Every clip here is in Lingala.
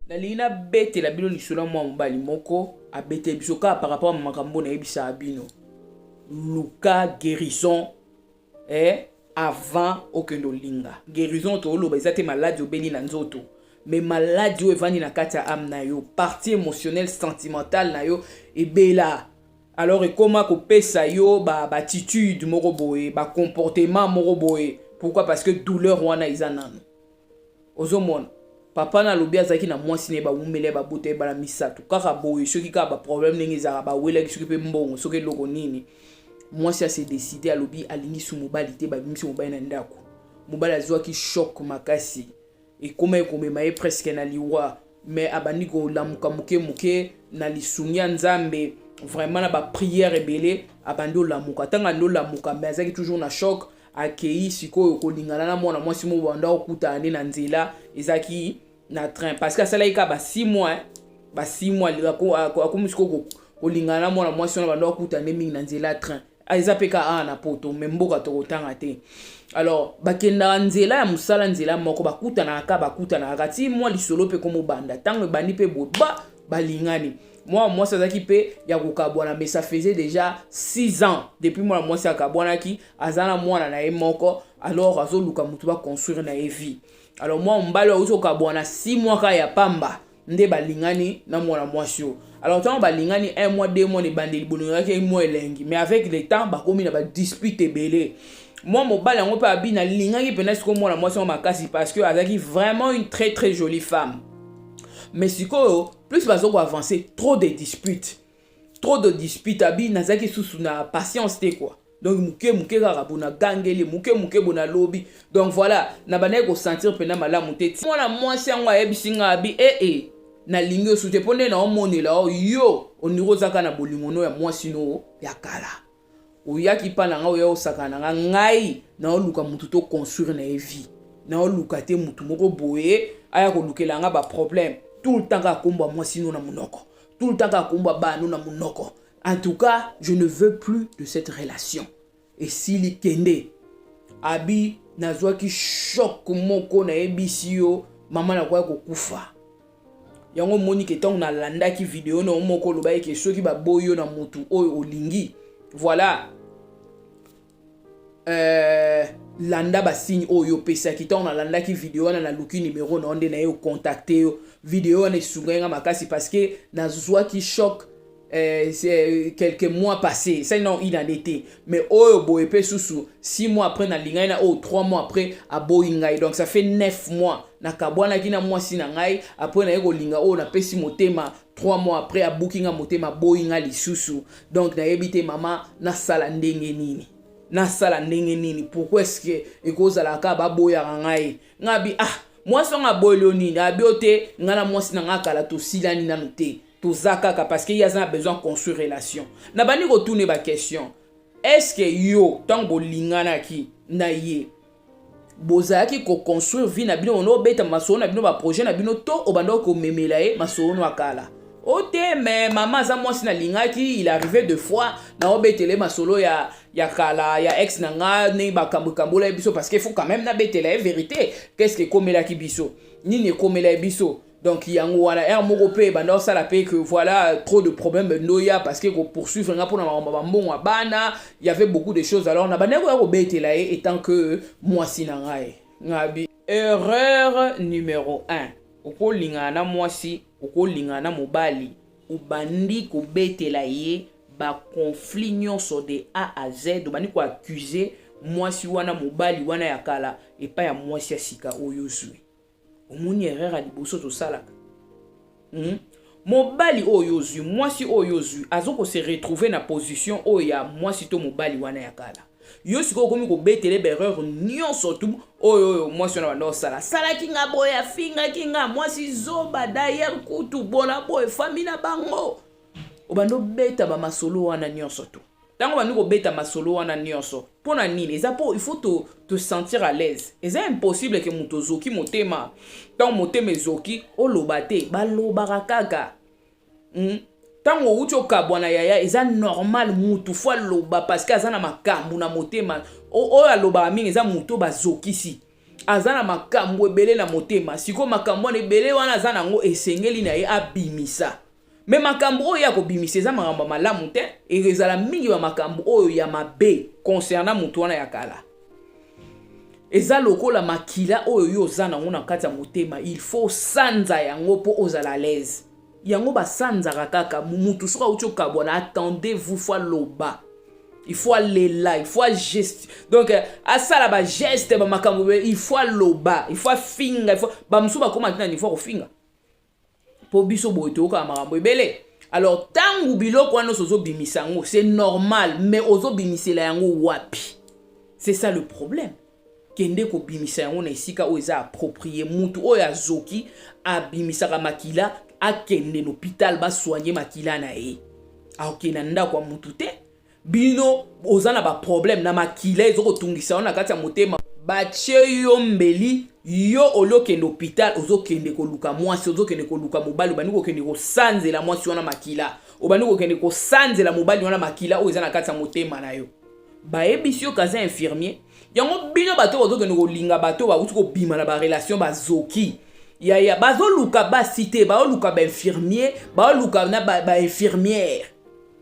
nalingi nabetela bino lisolo ya mwana mobali moko abeteli biso kaka par rapport na makambo nayebisaka bino luka guérison eh, avant okende olinga guérison tooloba eza te maladi obeli na nzoto me maladi oyo evandi na kati ya ame na yo partie émotionnelle sentimentale na yo ebela alors ekoma kopesa yo baatitude ba moko boye bacomportement moko boye pourquoi parce que douleur wana eza nano ozomona papa na alobi azalaki na mwasi na ye bawumela ye babota ye bana misato kaka boye soki kaka baproblème ndenge ezalaka bawelaki soki mpe mbongo soki eloko nini mwasi ase décide alobi alingi su mobali te babimisi mobali na ndako mobali azwaki choc makasi ekomaki komema ye presque na liwa me abandi kolamuka moke moke na lisungi ya nzambe vraiment na baprière ebele abandi olamuka ntango andi olamuka me azalaki toujours na choc akeyi sikoyo kolingana na mwana mwasi moko banda okutana nde na nzela ezalaki na train parce que asalaki kaka ba 6 mois ba 6 mois akomi sikoyo kolingana na mwana mwasi wana banda okutana nde mingi na nzela ya train ah, eza mpe kaka awa na poto me mboka tokotanga te alors bakendaka nzela ya mosala nzela moko bakutanaka kaka bakutanaka kati mwa lisolo mpe komobanda ntango ebandi mpe boye ba balingani mwana mwasi azalaki mpe ya kokabwana mais ça faisait déjà 6 ans depuis mwana mwasi akabwanaki aza na mwana na ye moko alors azoluka motu baconstruire na ye vie alors mwa mobali auti okabwana si mwaka ya pamba nde balingani na mwana mwasi oyo alors ntango balingani un mois deux mois na ebandeli bolingaki mwa elengi mais avec le temps bakomi na badispute ebele mwa mobali yango mpe abi nalingaki mpenza sikoyo mwana mwasi yango makasi parce que azalaki vraiment une très très jolie femme mais sikoyo plus bazokoavance trop de dispute trop de dispute abi nazalaki susu na patience te quoi donc moke moke kaka bona gangeli moke moke bona lobi donc voilà na bandaki kosentir mpena malamu te mwana mwasi yango ayebisi ngai abi ee eh, eh, nalingi osu te mpo nde naomonela yo ondiri ozaka na bolingono ya mwasi no ya kala oyaki pa na ngai oya osakana na ngai ngai naoluka motu to construire na ye vie naoluka te motu moko boye aya kolukela ngai baproblème tout le temps kaka kombo ya mwasi no na monoko tout le temps kaka kombo ya bano na monoko en tout cas je ne veux plus de cette relation esili kende abi nazwaki choc moko nayebisi yo mama nakoya kokufa yango omoni ke ntango nalandaki video na yo moko olobaki ke soki baboyi yo na motu oyo olingi voilà euh, landa basigne oyo opesaki ntango nalandaki video wana naluki numero na yo nde naye okontakte yo video wana esungaki nga makasi parce que nazwaki choc Euh, euh, quelques mois passé ça non une année te mais oyo boye mpe susu six mois après nalingaki na oyo trois mois après aboyi ngai donc ça fait neuf mois nakabwanaki na mwasi na ngai après naye kolinga oyo napesi motema trois mois après abuki nga motema aboyi nga lisusu donc nayebi te mama nasala ndenge nini nasala ndenge nini pourquoi est ce que ekozala kaka baboyaka ngai ngai abi ah mwasi yango aboyi yo nini abi yo te ngai na mwasi na ngai kala tosilani nanu te toza kaka parce que ye aza na besoin construire relation na bandi kotune ba question est ce que yo ntango bolinganaki na ye bozalaki koconstruire vie na bino ono obeta masolo na bino baprojet na bino to obandaki komemela ye masolo no akala o oh, te me mama aza mwasi nalingaki il arrive de fois naobetele masolo ya ya kala ya ex na nga ndenge bakambo ekambola ye biso parce que faut quand même nabetela ye verité qu'est ce que ekomelaki biso nini ekomelaki biso donc yango wana heure moko mpe ebanda osala mpe que voilà trop de problème ndoya parce que kopoursuivre nga mpona makambo bambongo ya bana y avait beaucoup de choses alors nabandaki koya kobetela ye etant que mwasi na ngai ngabi erreur numero 1 okolingana na mwasi okolingana na mobali obandi kobetela ye baconflit nyonso de a à z obandi koaccuse mwasi wana mobali wana ya kala epai ya mwasi ya sika oyo ozwi omoni erreur ya liboso tosalaka hmm? mobali oyo ozwi mwasi oyo ozwi azo ko se retrouver na position oyo ya mwasi to mobali wana ya kala yo sikoyo okomi kobetele berreur nyonso tu oyo oyo mwasi wana banda osala asalaki nga boye afingaki nga mwasi zoba dayere kutu bona boye fami na bango obanda obeta bamasolo wana nyonso tu Tango bandi kobeta masolo wana nionso, mpo na nini? Eza mpo il faut to, to sentir à l'aise. Eza impossible ke moto ozoki motema, ntango motema ezoki, oloba te, balobaka kaka. Hmm? ntango outi okabwana yaya eza normal mutu fo aloba parceke aza na makambo na motema oyo alobaka mingi eza moto bazokisi aza na makambo ebele na motema sikoyo makambo wana ebele wana aza na yango esengeli na ye abimisa me makambo oyo ye akobimisa eza makambo ya malamu te ezala mingi ba makambo oyo ya mabe concernant moto wana ya kala eza lokola makila oyo yo oza nango na kati ya motema il faut osanza yango mpo ozala alaise yango basanzaka kaka motu soki auti okabwana attendez vous fo aloba il faut alela il faut ageste donc euh, asala bageste bamakambo il faut aloba il faut afinga il faut bamosusu bakoma ntina niveau ya kofinga po biso boye toyokaka makambo ebele alors ntango biloko wana nyonso ozobimisa yango c'est normal mais ozobimisela yango wapi c'est ça le problème kende kobimisa yango na esika oyo eza approprié mutu oyo azoki abimisaka makila akende na hôpital basoigne makila na ye akokende na ndako ya mutu te bino oza na ba problème na makila ezo kotungisa yo na kati ya motema batie yo mbeli yo olokende hôpital ozokende koluka mwasi ozokende koluka mobali obandi kokende kosanzela mwasi wana makila obandi kokende kosanzela mobali wana makila oyo eza na kati ya motema na yo bayebisi yo kaza infirmier yango bino bato bazokende kolinga bato bauti kobima na barelation bazoki yaya bazoluka basi te baoluka bainfirmier baoluka na bainfirmiere ba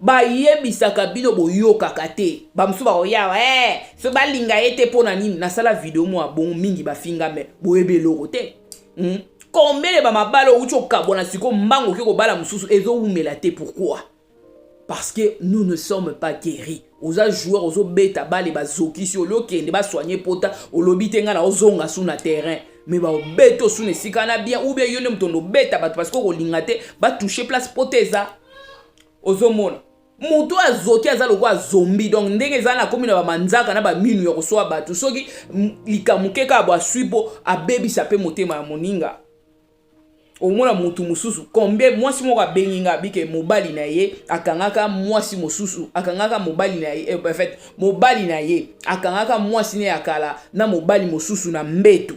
bayebisaka bino boyokaka te bamosusu bakoyawa hey, eh, so balinga ye te mpo na nini nasala video mwa bongo mingi bafinga me boyebi eloko te hmm? kombele bamabala outi okabwa na siko mbango oke kobala mosusu ezowumela te pourquoi parce que nous ne sommes pas guéris oza joueur ozobeta bale bazokisi oli okende basoigne pota olobi te ngai naozonga su na terrain me baobeta osu na esika wana bien ou bien yo nde moto ondobeta bato parce que okolinga te batouche place pota eza ozomona moto oyo azoki aza lokola zombi donc ndenge eza na komi na bamanzaka na baminu ya koswa bato soki likambo keka abo aswi mpo abebisa mpe motema ya moninga omona mutu mosusu combien mwasi moko abengi nga bike mobali na ye akangaka mwasi mosusu akangaka mobali na ye eh, en fait mobali na ye akangaka mwasi ne ya kala na mobali mosusu na mbetu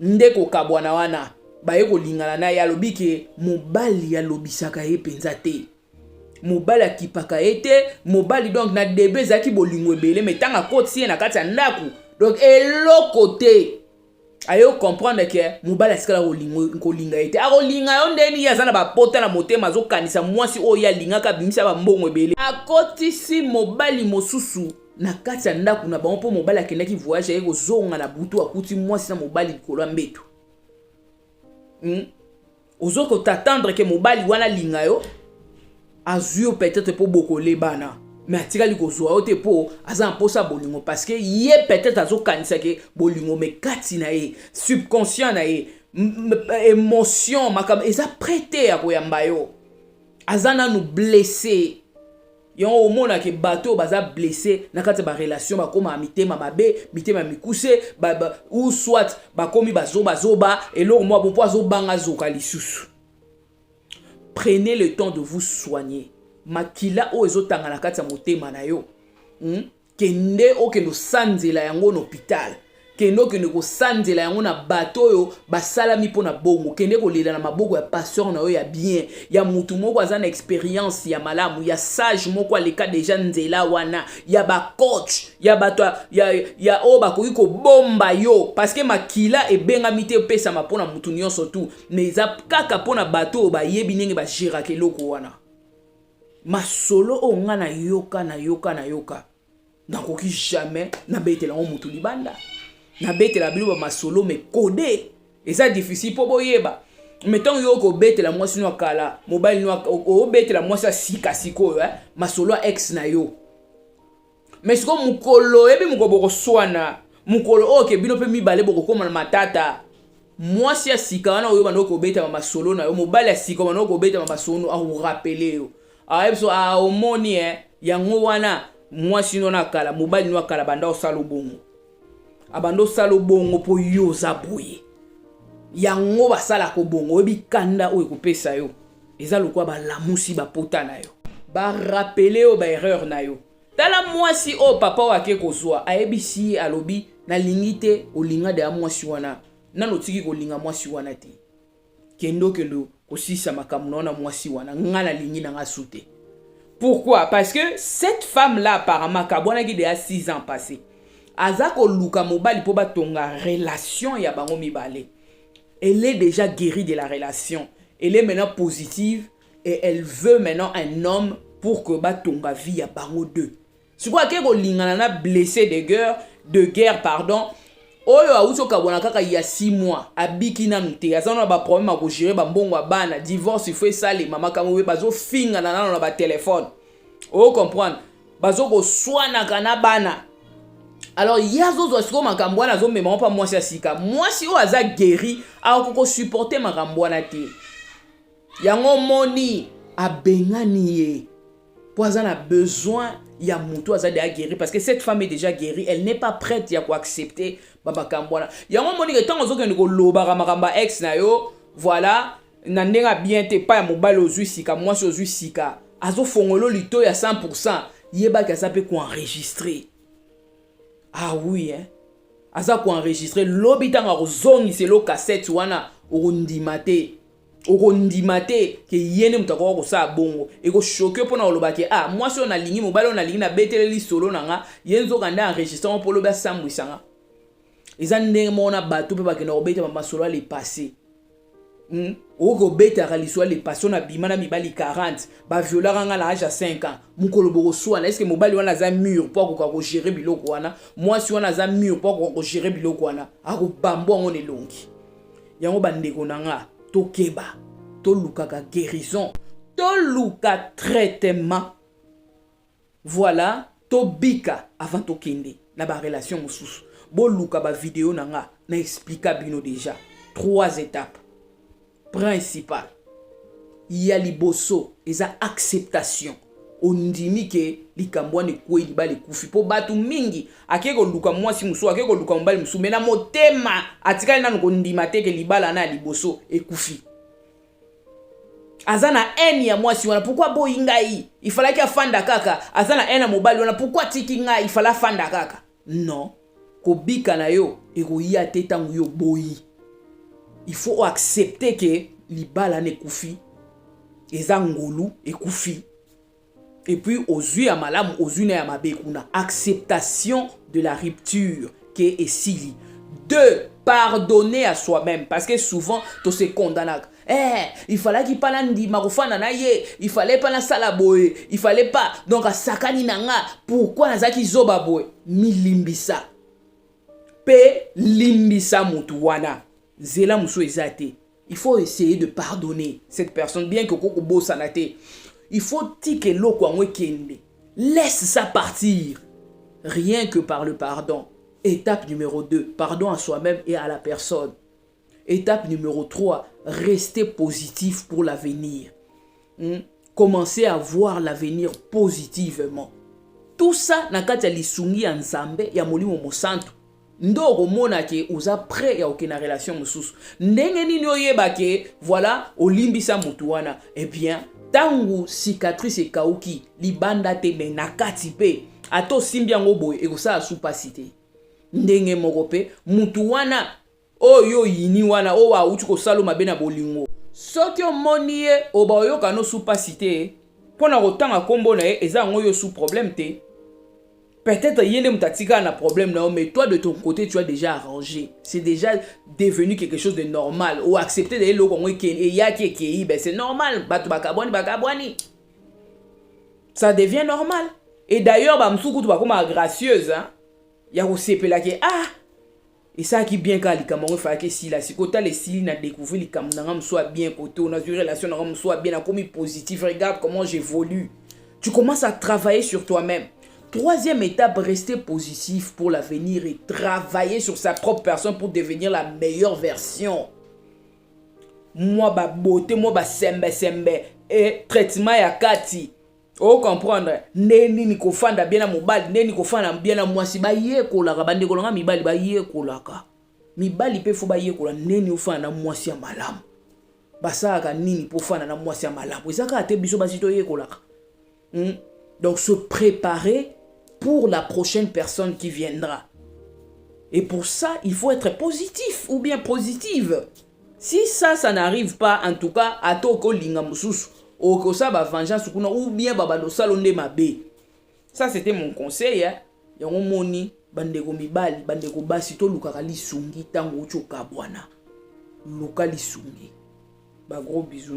nde kokabwana wana baye kolingana na ye alobi ke mobali alobisaka ye mpenza te mobali akipaka ye te mobali donc na debe ezalaki bolingo ebele mai ntango akotisi ye na kati ya ndako donc eloko te aye okomprendre ke mobali atikala kolinga ye te akolinga yo ndeni ye aza na bapota na motema azokanisa mwasi oyo ye alingaka abimisa bambongo ebele akotisi mobali mosusu na kati ya ndako na bango mpo mobali akendaki voyage aye kozonga na butu akuti mwasi na mobali likolo ya mbeto hmm? ozo ko t'attendre ke mobali wana alinga yo azwi yo peut-être mpo bokolebana me atikali kozwa yo te mpo aza na mposa bolingo parceke ye peut-être azokanisa ke bolingo me kati na ye subconscient na ye émotion makambo eza prêt te ya koyamba yo aza nanu blesse yango omona ke bato oyo baza blesse na kati ya barelation bakoma mitema mabe mitema mikuse ba, ba, ou soit bakomi bazobazoba eloko mwa bo mpo azobanga azoka lisusu prenez le temps de vous soigner makila oyo ezotanga na kati ya motema na yo hmm? kende okende osanzela yango na hopitale kende okende kosanzela yango na bato oyo basalami mpo na bongo kende kolela na maboko ya pasteur na yo ya bien ya motu moko aza na experience ya malamu ya sage moko aleka deja nzela wana ya bacoach ya bato ya, ya, ya oyo bakoki kobomba yo parceke makila ebengami te epesama mpo na motu nyonso tu ma eza kaka mpo na bato oyo bayebi ndenge bageraka eloko wana masolo oyo nga nayoka nayoka nayoka nakoki jamais nabetela yango motu libanda nabetela bino bamasolo mekode eza difficile mpo boyeba me ntango yo okobetela mwasi no ya kala mobali no obetela mwasi ya sika sikoyo eh? masolo ya ex na yo mais sikoyo mokolo oyebi mokolo bokoswana mokolo oyo ke bino mpe mibale bokokoma na matata mwasi ya sika wana oyo banda okobetama masolo na yo mobali ya sika banda okobetama masolo akorapele yo ayebi so aomoni e yango wana mwasi no na kala mobali no akala banda osala obongo abanda osala obongo mpo yo oza boye yango basalaka obongo oyebi kanda oyo ekopesa yo eza lokola balamusi bapota na yo barapele yo baerreur na yo tala mwasi oyo papa oyo ake kozwa ayebisi ye alobi nalingi te olinga deya mwasi wana nano otiki kolinga mwasi wana te kende okende kosilisa makambo na yo na mwasi wana ngai nalingi na ngai su te pourquoi parce que cette femme là apparemment akabwanaki deya 6 ans passé aza koluka mobali mpo batonga relation ya bango mibale elle est déjà guérie de la relation elle est maintenant positive et elle veut maintenant un homme pour que batonga vie ya bango deux sikoyo ake kolingana na blessé de guerre de guerre pardon oyo awuti okabwana kaka ya 6 mois abiki nanu te aza na baproblème ya kogere bambongo ya bana divorce ifo esalema makambo oyo bazofingana nano na batelefone o comprendre bazokoswanaka na bana alors ye azozwa sikoyo makambo wana azomema mpa mwasi ya sika mwasi oyo aza guéri akoki kosupporte makambo wana te yango omoni abengani ye mpo aza na besoin ya motu aza deja guéri parce que cette femme est déjà guéri elle n'est pas prête ya koaccepte bamakambo wana yango omoni ke ntango ozokende kolobaka makambo ya ex na yo voilà na ndenge ya bien te epai ya mobali ozwi sika mwasi ozwi sika azofongolo lito ya 100 pourcent yebaki aza mpe koenregistre ah oui hein? aza koenregistre lobi ntango akozongisela kasete wana okondima te okondima te ke ye nde moto akoka kosala bongo ekoshoke yo mpona koloba ke ah mwasi oyo nalingi mobali oyo nalingi nabetele lisolo na nga ye nzoka nde enregistre yango mpo lobi asambwisa nga eza ndenge moko na bato mpe bakenda kobeta bamasolo ya le passé hmm? okoki kobetaka lisolo ya le passé oyo nabima na mibali 40 baviolaka nga na age ya 5 ans mokolo bokoswana eske mobali wana aza mur mpo akoka kogere biloko wana mwasi wana aza mur mpo akoka kogere biloko wana akobambo yango na elongi yango bandeko na nga tokeba tolukaka guérison toluka traitement voilà tobika avant tokende na barelation mosusu boluka bavideo na nga na explika bino déjà trois étapes principale ya liboso eza acceptation ondimi ke likambo wana ekwei libala ekufi mpo bato mingi akei koluka mwasi mosusu akei koluka mobali mosusu me na motema atikali nano kondima te ke libala wana ya liboso ekufi aza na haine ya mwasi wana pourkui aboyi ngai ifalaki afanda kaka aza na haine ya mobali wana pourkui atiki ngai ifala afanda kaka Non, kobika na yo ekoya te ntango yo oboyi. Il faut accepter que libala na ekufi, eza ngolu ekufi. Et puis ozwi ya malamu ozwi na ya mabe kuna. Acceptation de la rupture ke esili. Deux, pardonner à soi-même parce que souvent to se condamnaka. eh, il falaki pa nandima kofanda na ye il fallait pa nasala boye il fallait pa donc asakani na nga pourkui nazalaki zoba boye milimbisa mpe limbisa motu wana nzela mosusu eza te il faut essayer de pardonner cette personne bien que okoki kobosana te il faut tika eloko yango ekende laisse ça partir rien que par le pardon étape numéro 2 pardon à soi-même et à la personne Etape numero 3, rester positif pour l'avenir. Hmm? Commencer à voir l'avenir positivement. Tout ça na kati ya lisungi ya Nzambe ya Molimo Mosantu. nde okomona ke oza prêt ya okenda relation mosusu ndenge nini oyeba ke voilà olimbisa motu wana eh bien ntango cicatrice ekauki libanda te me na kati mpe ata osimbi yango boye ekosala su mpasi te ndenge moko mpe motu wana Oyo yo oyini wana oyo awuti kosala yo mabe na bolingo. Soki omoni ye oba oyoka no su pasi te mpo na kotanga nkombo na ye eza yango yo su problème te. Peut-être ye nde moto atikala na problème na yo mais toi de ton côté tu as déjà arrangé. C'est déjà devenu quelque chose de normal. O accepter de eloko yango eke eyaki ekei ben c'est normal bato bakabwani bakabwani. Ça devient normal. Et d'ailleurs ba mosusu kutu bakoma gracieuse hein? ya kosepela ke ah esalaki bien kaka likambo yango efalaki esila sikoyo tala esili na découvrir likambo na nga mosusu ya bien kote oyo nazwi relation na nga mosusu ya bien nakomi positif regarde comment j'évolue tu commences à travailler sur toi-même troisième étape rester positif pour l'avenir et travailler sur sa propre personne pour devenir la meilleure version mwa babote mwa basembesembe e traitement ya kati o comprendre ndenge nini kofanda bien na mobali ndenge nini kofanda bien na mwasi bayekolaka bandeko na ngai mibali bayekolaka mibali mpe fo bayekola ndenge nini ofanda na mwasi ya malamu basalaka nini mpo ofanda na mwasi ya malamu eza kaka te biso basi toyekolaka hmm? donc se préparer pour la prochaine personne qui viendra et pour ça il faut être positif ou bien positive Si ça ça n'arrive pas en tout cas ata okolinga mosusu okosala ba vengeance kuna ou bien babanda osala nde mabe. Ça c'était mon conseil hein. Yango moni bandeko mibali bandeko basi tolukaka lisungi ntango outi okabwana luka lisungi ba gros bisous.